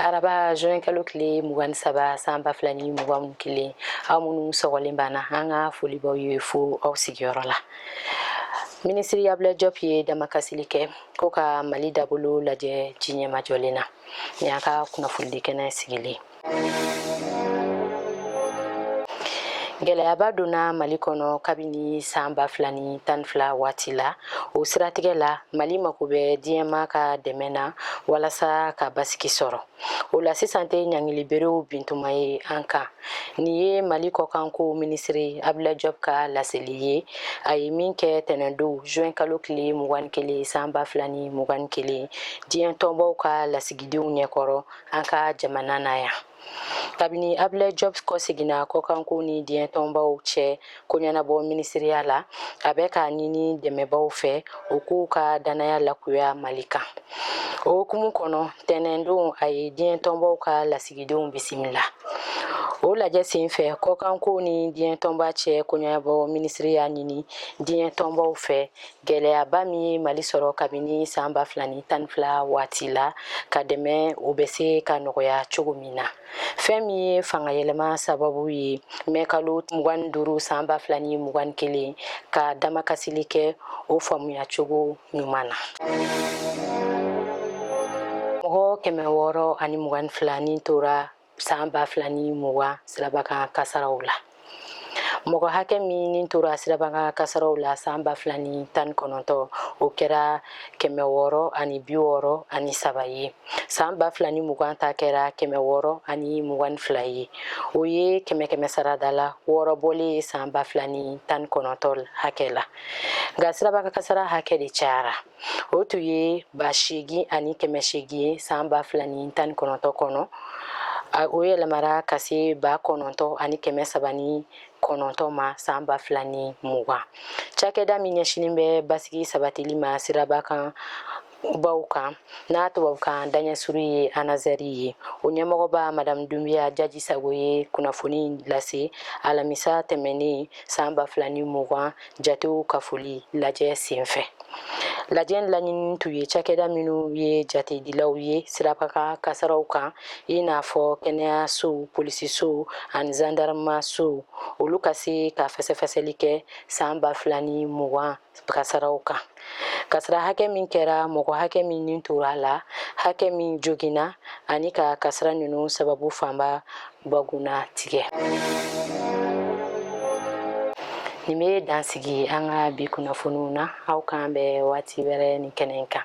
araba juin kalo tile mugan ni saba san ba fila ni mugan ni kelen aw minnu sɔgɔlen b'an na an ka foli b'aw ye fo aw sigiyɔrɔ la minisiri abdoulaye diop ye damakasili kɛ ko ka mali dabolo lajɛ ji ɲɛmajɔlen na ni y'a ka kunnafonidi kɛnɛ sigilen gɛlɛyaba donna mali kɔnɔ kabini san ba fila ni tan ni fila waati la o siratigɛ la mali mako bɛ diɲɛma ka dɛmɛ na walasa ka basigi sɔrɔ o la sisan tɛ ɲangiliberew bintuma ye an kan nin ye mali kɔkanko minisiri abdoulaye diop ka laseli ye a ye min kɛ tɛnɛndon juin kalo tile mugan ni kelen san ba fila ni mugan ni kelen diɲɛ tɔnbaw ka lasigidenw ɲɛkɔrɔ an ka jamana na yan kabini abdoulaye diop kɔseginna kɔkanko ni diɲɛtɔnbaw cɛ ko ɲɛnabɔ minisiriya la a bɛ k'a ɲini dɛmɛbaw fɛ u k'u ka dannaya lakuya mali kan o hukumu kɔnɔ tɛnɛndon a ye diɲɛtɔnbaw ka lasigidenw bisimila o lajɛ sen fɛ kɔkanko ni diɲɛtɔnba cɛ koɲɛnabɔ minisiri y'a ɲini diɲɛtɔnbaw fɛ gɛlɛyaba min ye mali sɔrɔ kabini san ba fila ni tan ni fila waati la ka dɛmɛ o bɛ se ka nɔgɔya cogo min na fɛn min ye fangayɛlɛma sababu ye mɛ kalo mugan ni duuru san ba fila ni mugan ni kelen ka damakasili kɛ o faamuya cogo ɲuman na mɔgɔ kɛmɛ wɔɔrɔ ani mugan ni fila ni tora san ba fila ni mugan sirabakan kasaraw la mɔgɔ hakɛ min ni tora sirabakan kasaraw la san ba fila ni tan kɔnɔntɔ o kɛra kɛmɛ wɔɔrɔ ani bi wɔɔrɔ ani saba ye san ba fila ni mugan ta kɛra kɛmɛ wɔɔrɔ ani mugan ni fila ye o ye kɛmɛ kɛmɛ sarada la wɔɔrɔ bɔlen ye san ba fila ni tan kɔnɔntɔ hakɛ la nka sirabakan kasara hakɛ de cayara o tun ye ba seegin ani kɛmɛ seegin ye san ba fila ni tan ni kɔnɔntɔ kɔnɔ o yɛlɛmara ka se ba kɔnɔntɔ ani kɛmɛ saba ni kɔnɔntɔ ma san ba fila ni mugan cakɛda min ɲɛsinin bɛ basigi sabatili ma siraba kan baw kan n'a tubabukan daɲɛsuru ye anazɛri ye o ɲɛmɔgɔba madamu dunbiya jaji sago ye kunnafoni lase alamisa tɛmɛnen san ba fila ni mugan jatew kafoli lajɛ senfɛ lajɛ laɲini tun ye cakɛda minnu ye jatedilaw ye sirabakan kasaraw kan i n'a fɔ kɛnɛyasow polisisow ani zandarmasow olu ka se ka fɛsɛfɛsɛli kɛ san ba fila ni mugan kasaraw kan kasara hakɛ min kɛra mɔgɔ hakɛ min ni tora a la hakɛ min joginna ani ka kasara ninnu sababu fanba bugunnatigɛ nin bɛ dan sigi an ka bi kunnafoniw na aw k'an bɛn waati wɛrɛ nin kɛnɛ kan